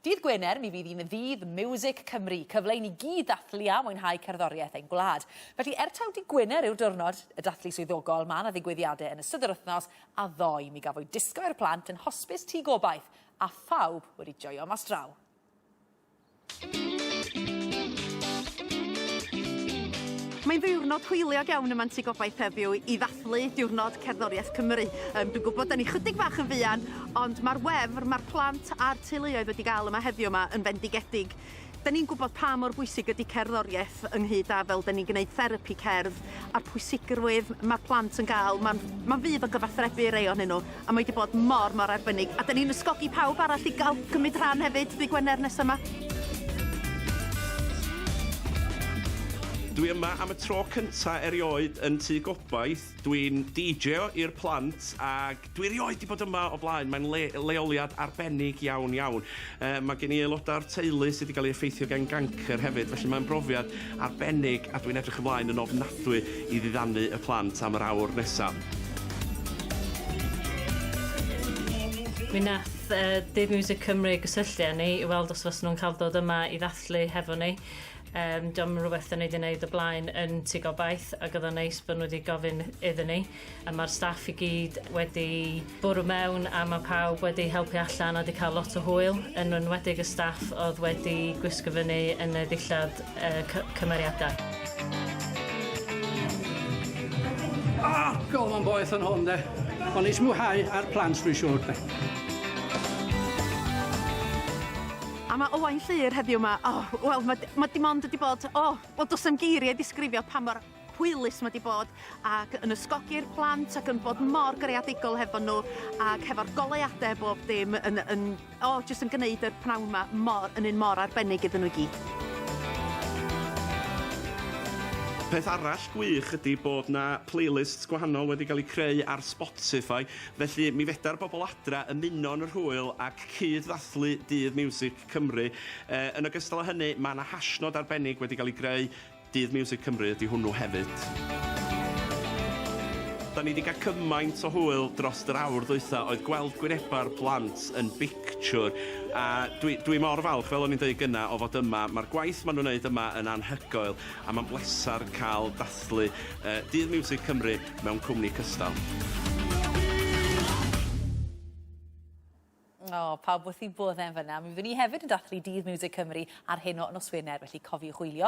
Dydd Gwener, mi fydd hi'n Ddydd Miwsig Cymru, cyfle i ni gyd ddathlu a mwynhau cerddoriaeth ein gwlad. Felly, er taw Dydd Gwener yw'r diwrnod y dathlu swyddogol, mae 'na ddigwyddiadau yn ystod yr wythnos, a ddoe mi gafwyd disgo i'r plant yn Hosbis Tŷ Gobaith, a phawb wedi joio mas draw. Mae'n ddiwrnod hwyliog iawn yma'n Tŷ Gobaith heddiw i ddathlu diwrnod cerddoriaeth Cymru. Yym, dwi'n gwybod 'dan ni chydig bach yn fuan, Ond mae'r wefr mae'r plant a'r teuluoedd wedi gael yma heddiw yma yn fendigedig. Da ni'n gwybod pa mor bwysig ydy cerddoriaeth ynghyd â fel da ni'n gwneud therapi cerdd a'r pwysigrwydd mae'r plant yn gael. Mae'n ma fydd o gyfathrebu rei ohonyn nhw a mae wedi bod mor, mor arbennig. A da ni'n ysgogi pawb arall i gael cymryd rhan hefyd ddy Gwener nesaf yma. Dwi yma am y tro cynta' erioed yn Tŷ Gobaith. Dwi'n DJo i'r plant ag Dwi erioed 'di bod yma o blaen, mae'n le- leoliad arbennig iawn, iawn. Yy, ma' gen i aelodau o'r teulu sydd 'di gael ei effeithio gan gancr hefyd, felly mae'n brofiad arbennig a dwi'n edrych ymlaen yn ofnadwy i ddiddanu y plant am yr awr nesa. Mi nath yy Dyn Miwsig Cymru gysylltu â ni i weld os fyswn nhw'n cael dod yma i ddathlu hefo ni. Yym, 'di o'm yn rhywbeth 'dan ni 'di neud o blaen yn Tŷ Gobaith, ag o'dd o'n neis bo' nhw 'di gofyn iddyn ni. A mae'r staff i gyd wedi bwrw mewn a mae pawb wedi helpu allan a wedi cael lot o hwyl, yn enwedig y staff oedd wedi gwisgo fyny yn y ddillad y cymeriadau. Ah, go on boeth yn hwn de. Ond neis mwynhau a'r plant dwi'n siŵr de. A mae Owain Llŷr heddiw 'ma, o, wel, mae, mae dim ond wedi bod, o, wel, does na'm geiriau i ddisgrifio pa mor hwylus mae 'di bod ac yn ysgogi'r plant ac yn bod mor greadigol hefo nhw ac hefo'r goleuadau a bob dim yn, yn, o, oh, jyst yn gwneud yr pnawn yma mor, yn un mor arbennig iddyn nhw i gyd. Peth arall gwych ydy bod 'na playlists gwahanol wedi cael eu creu ar Spotify, felly mi feda'r bobl adra ymuno yn yr hwyl ac cyd-ddathlu Dydd Miwsig Cymru. Yn ogystal â hynny, mae 'na hashnod arbennig wedi cael ei greu, Dydd Miwsig Cymru ydy hwnnw hefyd. Da ni 'di cael cymaint o hwyl drost yr awr ddwytha oedd gweld gwyneba'r plant yn bictiwr a dwi dwi mor falch fel o'n i'n deud gynna o fod yma ma'r gwaith ma' nhw'n neud yma yn anhygoel a ma'n bleser cael dathlu yy Dydd Miwsig Cymru mewn cwmni cystal. O, pawb wrth eu boddau yn fanna. Mi fyddwn ni hefyd yn dathlu Dydd Miwsig Cymru ar hyn o nos Wener, felly cofiwch wylio.